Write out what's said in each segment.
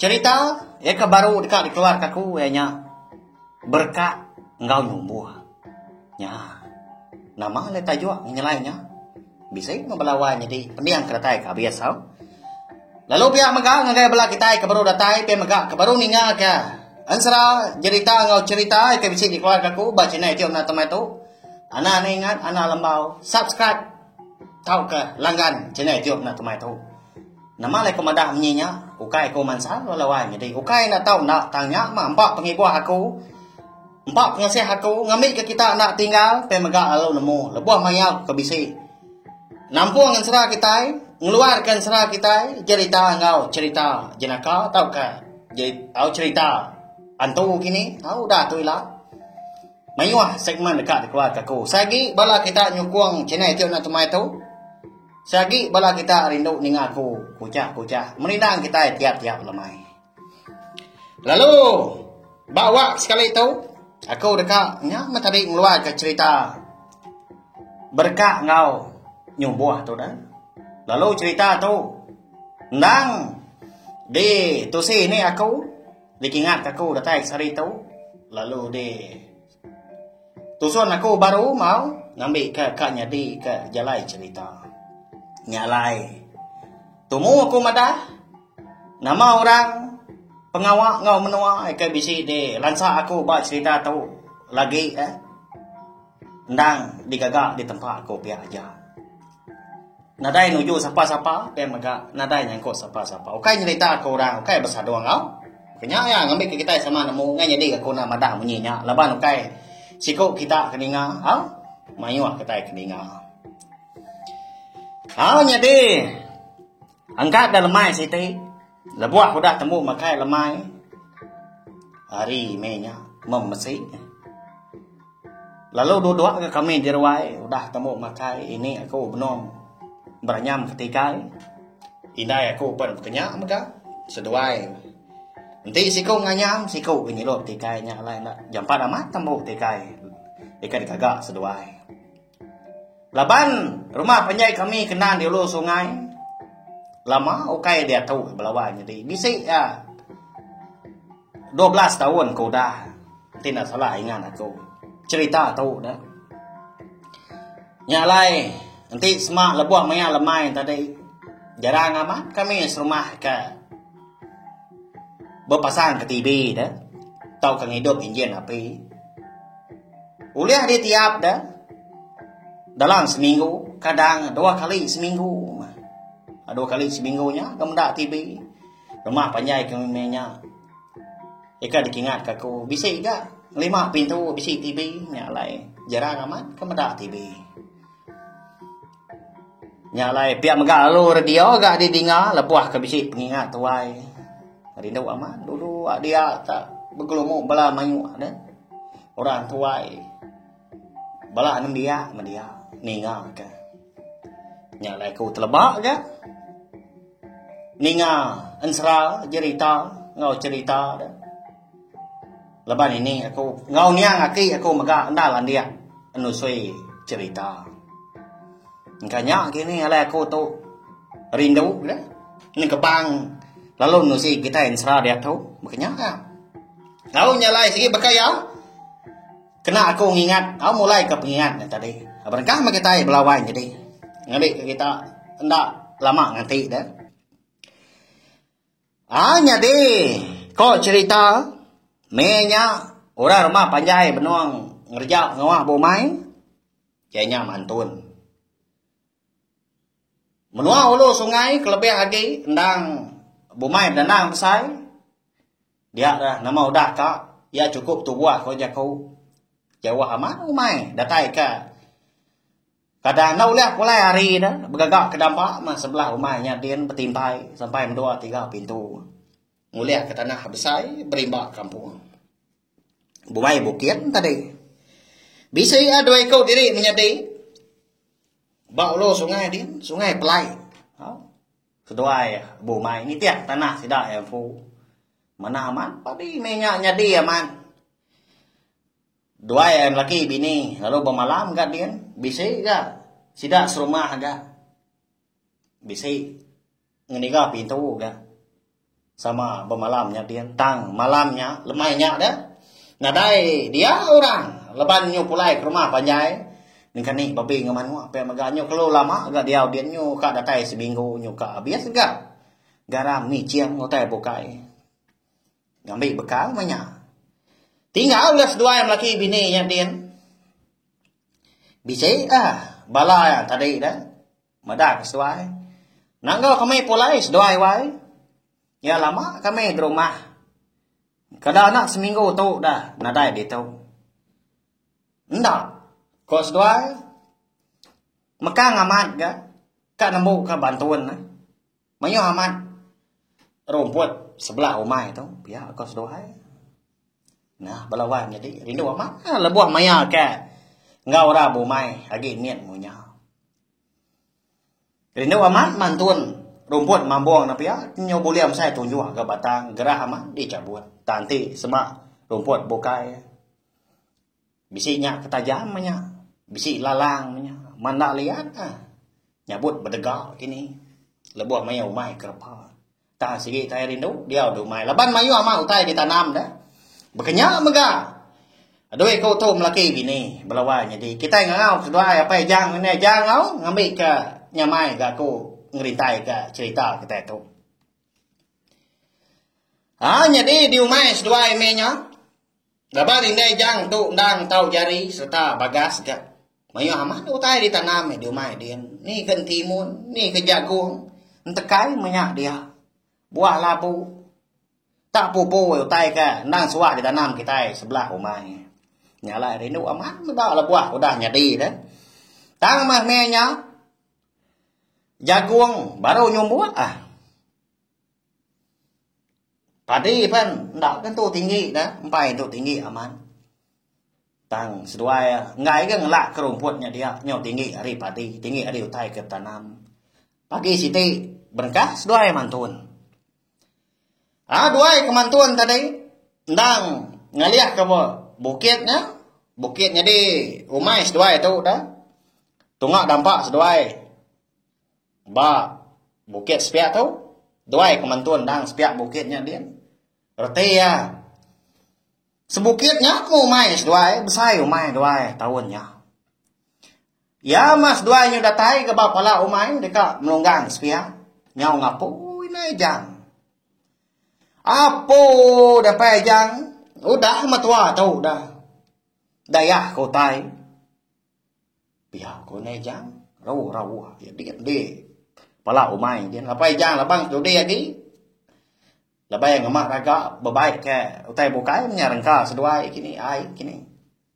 Cherita iya ke baru deka dikeluarka aku iya nya Berka enggau Numbuh. Nya. Nama alai tajuk ngenyelai nya? Bisi meh bala wai nyadi pening ke datai ke abis tau. Lalu pia mega ngagai bala kitai ke baru datai pia mega ke baru ninga ke Ensera jerita enggau cherita ke bisi dikeluarka aku ba channel YouTube Nata Mai tu. Ana ne ingat ana lembau subscribe tauka langgan channel YouTube Nata Mai tu. Nama alai ku madah menyi nya? Ukai ku mansa lalu lawai nyadi. Ukai enda tau enda tang nya mah empa pengibuh aku. Empa pengasih aku ngambika kita enda tinggal pia mega lalu nemu lebuh maya ku ke bisi. Nampung ensera kitai, ngeluarka ensera kitai jerita enggau cherita jenaka tauka au cherita antu kini au udah tu ila. Mayuh segmen deka dikeluarka aku. Sai agi bala kita nyukung channel Iti Onoi Tumai tu. Seagi bala kita rindu ninga aku kuchah-kuchah merindang kitai tiap-tiap lemai. Lalu ba wak sekali tu aku deka nya meh tadi ngeluarka cerita berka enggau nyumbuh tu dah. Lalu cerita tu endang di tusi ni aku dikingat aku datai sehari tu lalu di Tusun aku baru mau ngambika ka nyadi ka jalai cerita. Nya alai. Tumu aku madah nama orang pengawa ngau menua ke bisi di lansa aku ba cerita tu lagi eh endang digaga di tempa aku pia aja. Nadai nuju sapa-sapa ukai mega nadai nyangkut sapa-sapa ukai nyerita ke orang ukai besadu enggau ke nya iya ngambika kitai sama nemu ngai nyadi ga ku enda madah munyi nya laban ukai siku kita ke ninga au mayuh kitai ke ninga. Au nyadi engka da lemai siti. Lebuh udah tembu makai lemai hari meh nya mem mesi. Lalu duduk ke kami di ruai udah tembu makai ini aku benung beranyam ke tikai. Indai aku pen kenya mega seduai. Enti siku nganyam siku ke nyilup tikai nya alai enda jampat amat tembu tikai. Ikan kaga seduai. Laban rumah panjai kami kena di ulu sungai lama ukai diatu belawa nyadi bisi iya 12 taun ke udah enti enda salah ingat aku cerita tu dah. Nya alai enti sema lebuh maya lemai tadi jarang amat kami serumah ke bepasang ke TV dah tauka ngidup injin api. Ulih ditiap da dalam seminggu, kadang dua kali seminggu. Dua kali seminggu nya kemenda TV. Rumah panjai ke nya. Ika dikingat ka aku bisi ga lima pintu bisi TV nya alai. Jarang amat kemeda TV. Nya alai pia mega lalu radio ga didinga lebuh ke bisi pengingat tuai. Rindu amat dulu a dia ta begelumu bala mayuh deh. Orang tuai bala anem dia meh dia ninga ke. Nya alai ku teleba ga ninga ensera jerita enggau cherita deh. Leban ini aku enggau niang aki aku mega enda landik enusui cerita. Engka nya kini alai aku tu rindu ke nengkebang lalu nusi kitai ensera diatu baka nya ka. Au nya alai sigi baka iya kena aku ngingat au mulai ka pengingat nya tadi. Berengkah meh kitai belawan jadi ngambi kita enda lama nganti deh. Ai nyadi, ko cherita meh nya orang rumah panjai benung ngereja ngawah ba umai, ke nya mantun. Menua ulu sungai kelebih agi endang bumai bedendang besai dia rah nama udah ka iya chukup tubuh ko jaku jauh amat umai datai ka Kada enda ulih pulai ari ne begaga ke damba meh sebelah umai nya din betintai sampai mendua tiga pintu ngulih ke tanah besai berimba kampung Buai Bukit tadi. Bisi iya dua iku diri menyadi ba ulu sungai din, Sungai Pelai. Ha? Seduai Bumai nitih tanah sida yang fu. Mana aman padi menya nyadi aman. Duai ai melaki bini lalu bemalam ga din bisi ga sida serumah ga bisi ngeniga pintu ga sama bemalam nya din tang malam nya lemai nya deh nadai dia orang leban nyu pulai ke rumah panjai engkani babi enggau manuk pia mega nyu kelu lama ga diau din nyu ka datai seminggu nyu ka abis ga garam ngicing utai bukai. Ngambi bekal meh nya. Tinggal ga seduai melaki bini nya din. Bisi ah bala ya tadi da. Meda ke seduai. Nangga kami pulai seduai wai. Ya lama kami di rumah. Kada anak seminggu tu da nadai ditu. Enda ko seduai. Mekang amat ga ka nembu ka bantun. Mayuh amat rumput sebelah umai tu pia ko seduai. Nah bala wan nyadi rindu amat ha, lebuh maya ke enggau ora bumai agi mit munya. Rindu amat mantun rumput mambong na pia nyu bulih mesai tunjuk ga batang gerah amat dicabut. Tanti sema rumput bukai. Bisi nya ke tajam meh nya. Bisi lalang meh nya. Manda liat ka. Nyabut bedega kini. Lebuh mayuh umai ke repa. Tang sigi kai rindu diau di umai. Laban mayuh amat utai ditanam deh. Bekenya mega. Doi ke utu melaki bini belawa nyadi. Kitai ngangau seduai Apai Ijang ngan Indai Ijang au ngambi ke nyamai ga ku ngerintai ke cerita kitai tu. Ha nyadi diumai seduai meh nya. Laban indai jang tu endang tau jari sereta bagas ga mayuh amat utai ditanam di umai din. Ni ke entimun, ni ke jagung, entekai meh nya dia. Buah labu. Tak pupu utai ke endang suah ditanam kitai sebelah umai. Nya alai rindu amat meda la buah udah nyadi tu. Tang meh meh nya. Jagung baru nyumbuk ah. Padi pen enda ke tu tinggi da empai tu tinggi aman. Tang seduai enggai ke ngelak ke rumput nya dia nyau tinggi ari padi tinggi ari utai ke betanam. Pagi siti berengkah seduai mantun. Aa duai ke mantun tadi endang ngalih ke ba bukit nya bukit nyadi umai seduai tu da tunga dampa seduai ba bukit sepia tu duai ke mantun endang sepia bukit nya din reti iya. Sebukit nya ku umai seduai besai umai duai taun nya. Iya meh seduai nyu datai ke ba pala umai deka melunggang sepiak nyau ngapui nai ijang. Apu deh pai ijang udah metua tu dah. Dayah ke utai. Pia ku nai ijang rauh rauh dik dik pala umai din lapai ijang labang studi agi. Lebai ngema raga bebai ke utai bukai menya rengka seduai kini ai kini.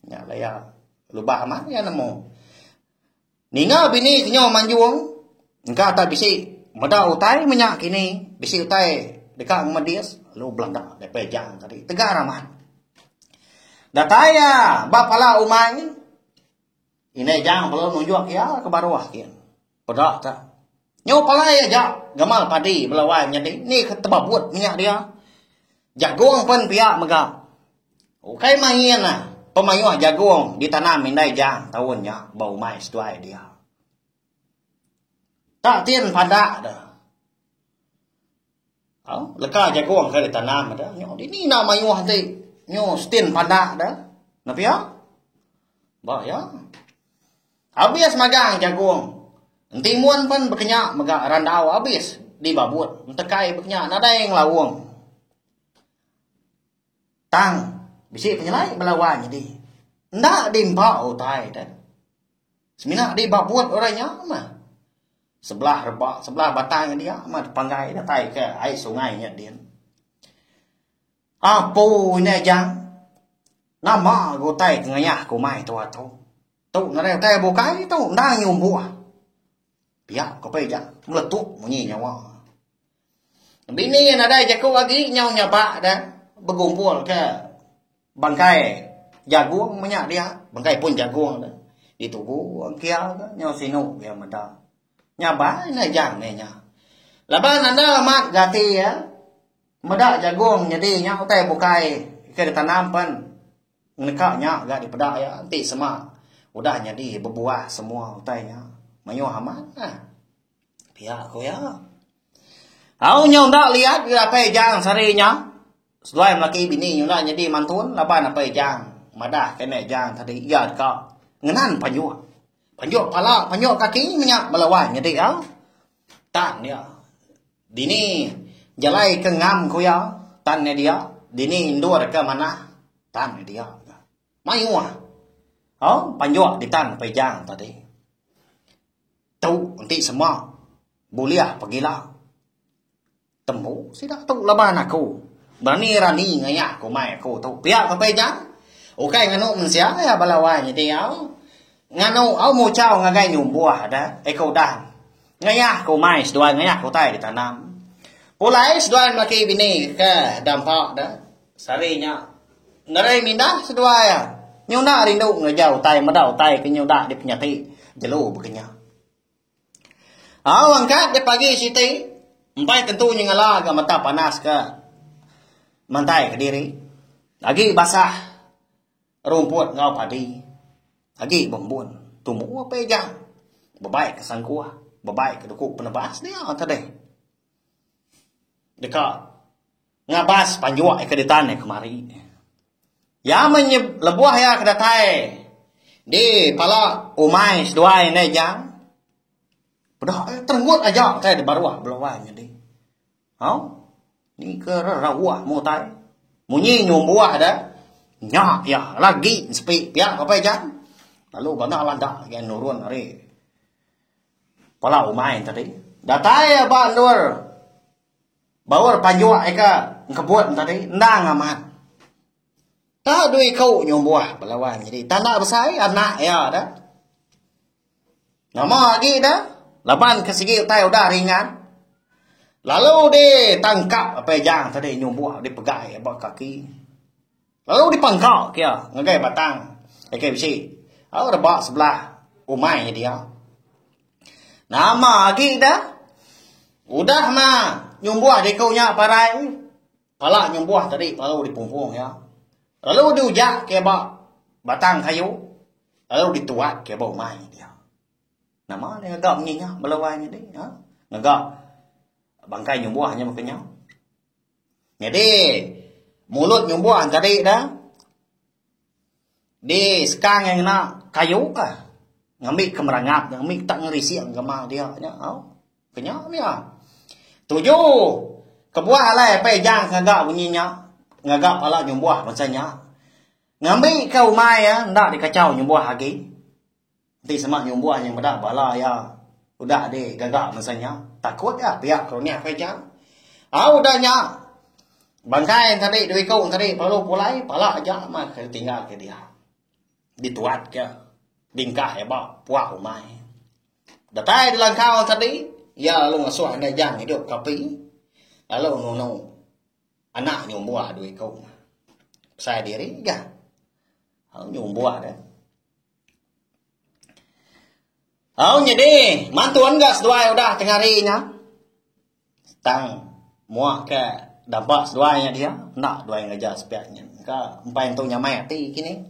Nya laya lubah amat iya nemu. Ninga bini kenyau manjung engka tak bisi meda utai menya kini bisi utai deka ngemedis lalu belanda deh pejam tadi tegar amat. Datai iya ba pala umai. Indai Ijang perlu nunjuk iya ke baruh kin. Peda ka. Nyu palai aja gamal padi belawai menyadi ni ke tebabut minyak dia. Jagung pun pia mega. Ukai main ah pemayuh jagung ditanam Indai Ijang taun nya ba umai seduai dia. Tak tin padak de. Au, leka jagung ke ditanam ada. Nyo dini enda mayuh ti. Nyo stin pandak da. Nah pia. Ba ya. Habis magang jagung. Entimun pun bekenya mega randau habis di babut. Entekai bekenya nadai ngelaung. Tang bisi penyelai bala wan nyadi. Enda di empa utai da. Semina di ba but orang nya mah. Sebelah reba, sebelah batang ngan dia mah dipanggai datai ke ai sungai nya din. Apo ina jang? Nama ke utai ke ngayah ke umai tu atu? Tu ngaran utai bukai tu endang nyumbuh. Pia ke pe ija meletup munyi nyawa. Bini nadai jaku agi nyau nyabak dah begumpul ke Bangkai jagung menya dia, bangkai pun jagung dia. Ditugu kia ke nyau sinu dia meda. Nyabai na jang dia nya. Laban anda amat gati ya. Meda jagung nyadi nya utai bukai ke ditanam pen neka nya ga dipeda iya enti sema udah nyadi bebuah semua utai nya. Mayuh amat nah. Pia ku iya. Au nyau enda liat datai jang sehari nya. Seduai melaki bini nyunak nyadi mantun laban apai Ijang madah kena Ijang tadi iya deka ngenan panjuk. Panjuk pala, panjuk kaki menya bala wai nyadi iya. Tang iya. Dini jalai ke ngam ku iya, tang nyadi iya. Dini endur ke manah, tang nyadi iya. Mayuh. Oh, panjuk ditan apai Ijang tadi. Tu enti semak bulih pegila. Tembu sida tu laban Aku berani-rani ngayak ke umai Aku tu. Pia ke Pei Jang, ukai nganu mensia iya bala wai nyadi au. Nganu au muchau ngagai nyumbuh da iko udah ngayak ke umai seduai ngayak ke utai ditanam. Pulai seduai melaki bini ke dampa da sehari nya ngerai mindah seduai nyuna rindu ngereja utai meda utai ke nyudah dipenyati jelu baka nya. Au angkat ja pagi siti empai tentu nyengala ga mata panas ka mantai kediri agi basah rumput enggau padi agi bembun tumu apai ijang bebai ka sangkuh bebai ka duku penebas dia tadi deka Ngabas panjua iya ke ditan iya kemari. Iya menye lebuh iya ke datai di pala umai seduai indai ijang. Peda iya terenggut aja utai di baruh belawai nyadi. Au. Ni ke re rauh mu utai. Munyi nyu umbuh de nya iya lagi sepi pia ke apai ijang. Lalu bana landa iya nurun ari pala umai tadi. Datai iya ba endur. Baur pajuk ika engkebut tadi endang amat. Tau dua iku nyumbuh belawan nyadi tanda besai anak iya da. Nama agi da laban ke sigi utai udah ringan. Lalu ditangkap Apejang tadi nyumbuh dipegai ba kaki. Lalu dipangka ka iya ngagai batang KK besi lalu rebak sebelah umai nya dia. Nama agi ida? Udah ma nyumbuh diku nya parai. Pala nyumbuh tadi lalu dipumpung iya. Lalu diujak ka ba batang kayu lalu dituak ka ba umai dia. Nama dia ngaga munyi nya bala wai nya deh. Ha? Ngaga bangkai nyumbuh nya baka nya. Nyadi mulut nyumbuh tadi dah di sekang yang kena kayu ah. Ngambil ke merangap, ngambil tak ngerisik ke mal dia. Nya, oh. Kenya dia. Tuju. Kebuah alai apa ejang ngaga bunyi nya. Ngaga pala nyumbuh masa nya. Ngambil ke umai ya, ndak dikacau nyumbuh lagi. Enti sema nyumbuh nyeng meda bala iya udah di gaga mensia nya takut ga piak kerunyah ke ija. Au udah nya bangkai enti tadi dua iku enti tadi perlu pulai pala aja meh ke ditinggal ke dia. Di tuat ke bingkah iya ba puak umai. Datai di langkau enti tadi iya lalu ngesuh enda ija ngidup ke api lalu nunu anak nyumbuh dua iku. Besai diri ga nyumbuh deh. Au nyadi, mantun ga seduai udah tengah hari nya. Tang mua ke daba seduai nya dia, enda duai ngereja sepiak nyin ka empai entu nyamai ati kinih.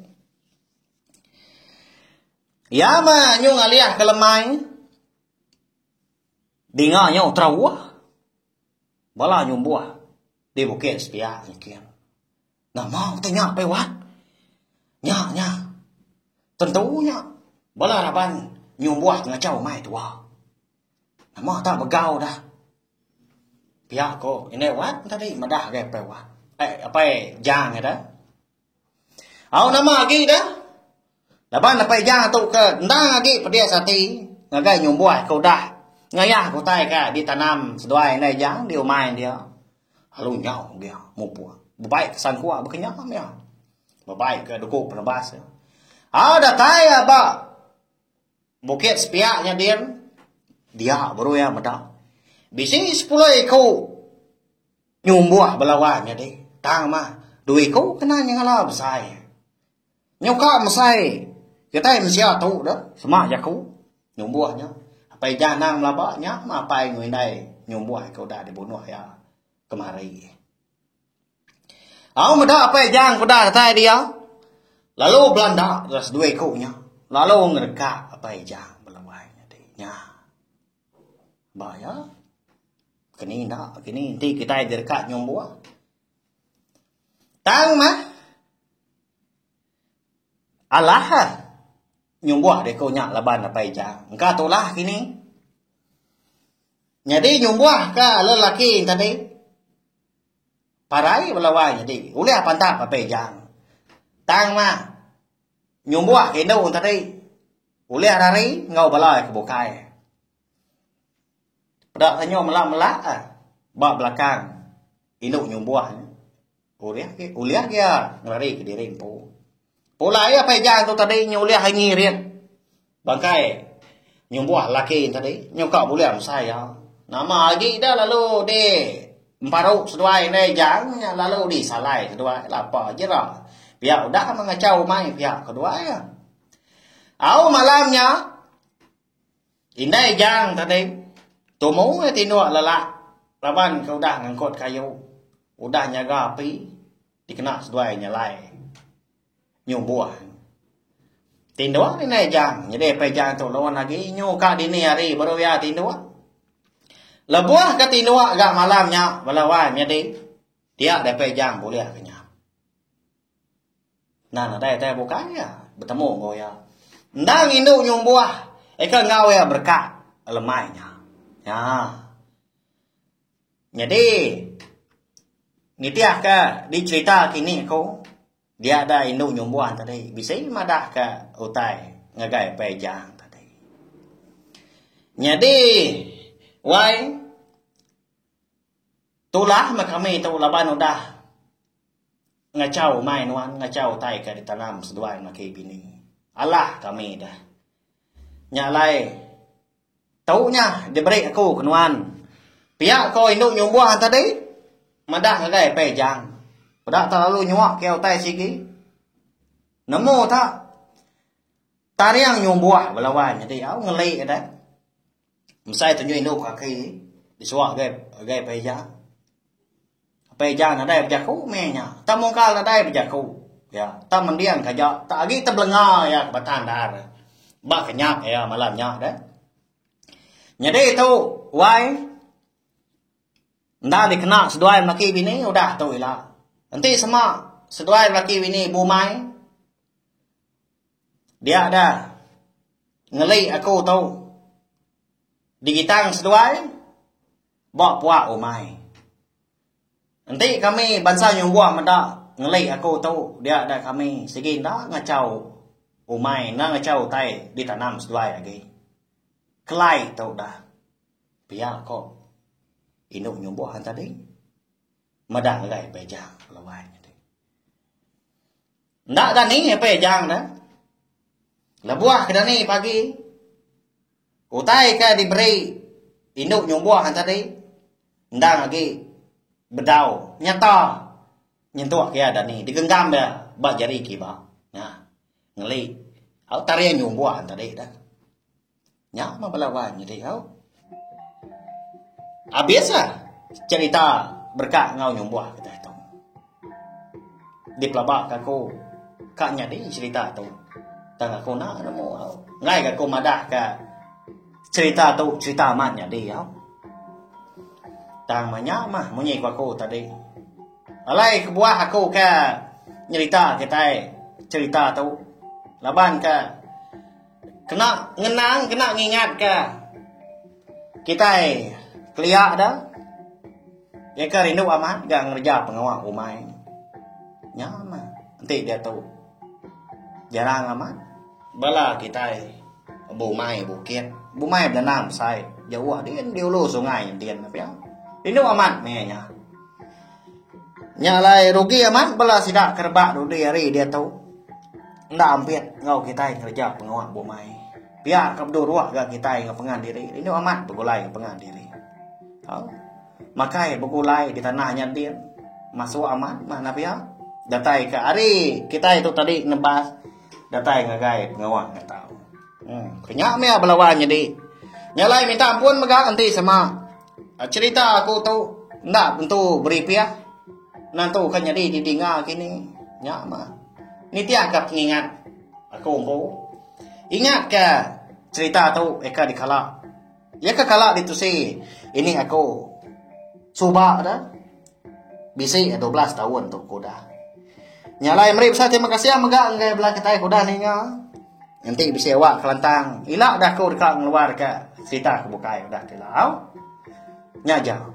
Iya mah nyuh ngalih ke lemai, dinga nya utrauh, bala nyumbuh di bukit sepiak nyikin. Nama ku ti nya, Pei Wat? Nya nya. Tentu nya bala raban nyumbuh ngachau mai tua. Nama tak begau dah. Pia ko Indai Wat tadi madah agai Pei Wat. Eh, Pei Jang eda. Au nama agi dah. Laban Dapai Jang tu ke endang agi pedis ati ngagai nyumbuh ke udah ngayah ke utai ke ditanam seduai indai Jang di umai dia. Lalu nyau dia mupuk. Bebai ke sangkua bekenyam dia. Bebai ke duku penebas dia. Au datai ya ba Bukit Sepiak nya din. Dia baru ya meda. Bisi 10 iku nyumbuh belawan nya di. Tang mah 2 iku kena nya ngala besai. Nyuka mesai kitai mensia tu dah sema jaku nyumbuh nya. Apai ija anang belaba nya meh apai enggau indai nyumbuh ke udah dibunuh iya kemari. Au meda apai ija ke udah datai dia lalu belanda ke seduai ku nya lalu ngerekat apai ija belawai nyadi nya. Ba iya kini enda kini enti kitai direkat nyumbuh tang meh. Alah. Nyumbuh deh ku nya laban apai ija. Engka tulah kini. Nyadi nyumbuh ka ala lelaki enti tadi. Parai bala wai nyadi. Ulih pantap apai ija. Tang mah. Nyumbuh ka indu enti tadi. Ulih ari ari enggau bala ke bukai. Peda tanyo mela-mela ba belakang indu nyumbuh. Ulih ke ulih ke iya ngelari ke diri empu. Pulai apai ija tu tadi nyu ulih ai ngirit. Bangkai nyumbuh laki tadi nyuka bulih besai iya. Nama agi ida lalu di emparu seduai endai ija nya lalu di salai seduai lapa jera pia udah mengachau umai pia keduai. Au malam nya Indai Jang tadi tumu iya tinduk lelak laban ke udah ngangkut kayu, udah nyaga api dikena seduai nyalai nyubuh. Tinduk indai Jang nyadi apai Jang tu laun agi nyu ka dini hari baru iya tinduk. Lebuh ke tinduk ga malam nya bala wai menyadi dia daripada Jang bulih ke nya. Enda nadai tai bukai iya betemu enggau iya. Enda ngindu nyumbuh ika enggau iya bereka lemai nya. Nya. Nyadi nitihka di cherita kini ku dia da indu nyumbuh tadi bisi madahka utai ngagai Pei Jang tadi. Nyadi wai tulah meh kami tu laban udah Ngachau umai nuan ngachau utai ka ditanam seduai melaki bini. Alah kami dah. Nya alai tu nya diberi aku ke nuan. Pia ko indu nyumbuh tadi madah ngagai Pei Jang. Peda terlalu nyuak kiau utai sigi. Nemu ta taring nyumbuh bela wan nyadi au ngeli dah. Mesai tunjuk indu ba kaki disuak gai gai Pak Ejak. Pak Ejak nadai bejaku meh nya. Tak mungkal nadai bejaku. Ya, tak mending ka ja, tak agi tebelenga iya ke batang ndar. Ba kenyap iya malam nya deh. Nyadi tu wai enda dikena seduai melaki bini udah tu ila. Enti sema seduai laki bini bumai Dia da ngeli aku tu digitang seduai ba puak umai. Enti kami bansa nyunggoh meda ngeli aku tu dia da kami sigi enda ngachau umai enda ngachau utai ditanam seduai agi. Kelai tu da pia ko indu nyunggoh tadi meda ngagai beja lawan. Enda dani ape ejang da. Lebuh ke dani pagi. Utai ke diberi indu nyumbuh han tadi endang agi bedau nyata nyentuk ke iya dani digenggam iya ba jari kiba. Nah. Ngeli. Au tarian nyumbuh han tadi da. Nya mah bala wan nyadi au. Abis lah cerita berka ngau nyumbuh kita tu. Di pelaba ka aku ka nyadi cerita tu. Tang aku nak nemu au. Ngai ka aku madah ka cerita tu cerita amat nyadi au. Tang manya mah munyi ku aku tadi. Alai kebuah aku ka nyerita kitai cerita tu. Laban ka Kena ngenang, kena ngingat ke kitai kelia da ya ke rindu amat ga ngereja pengawa umai. Nya mah enti diatu jarang amat bala kitai bumai bukit, bumai benenang besai jauh din di ulu sungai entin pia. Rindu amat meh nya. Nya alai rugi amat bela sida ke rebak dudi hari diatu enda ampit enggau kitai ngereja pengawa bumai. Pia ke beduruk ga kitai enggau pengan diri rindu amat begulai enggau pengan diri. Au. Makai begulai di tanah nya din masuk amat mah enda pia. Datai ke hari kitai tu tadi nebas datai ngagai pengawa nya tau. Hmm. Nya meh belawan nyadi. Nya alai minta ampun mega enti sama. Cherita aku tu enda tentu beri pia. Nentu ka nyadi di dinga kini. Nya mah. Nitih ka pengingat aku empu. Ingat ka cherita tu eka dikala. Iya ka kala ditusi ini aku suba da. Bisi dua belas taun tu ku udah. Nya alai meri besai terima kasih ah mega enggai bela kitai ku udah ninga. Enti bisi awak kelantang ila dah ku deka ngeluar ka serita ke bukai udah dilau. Nya aja.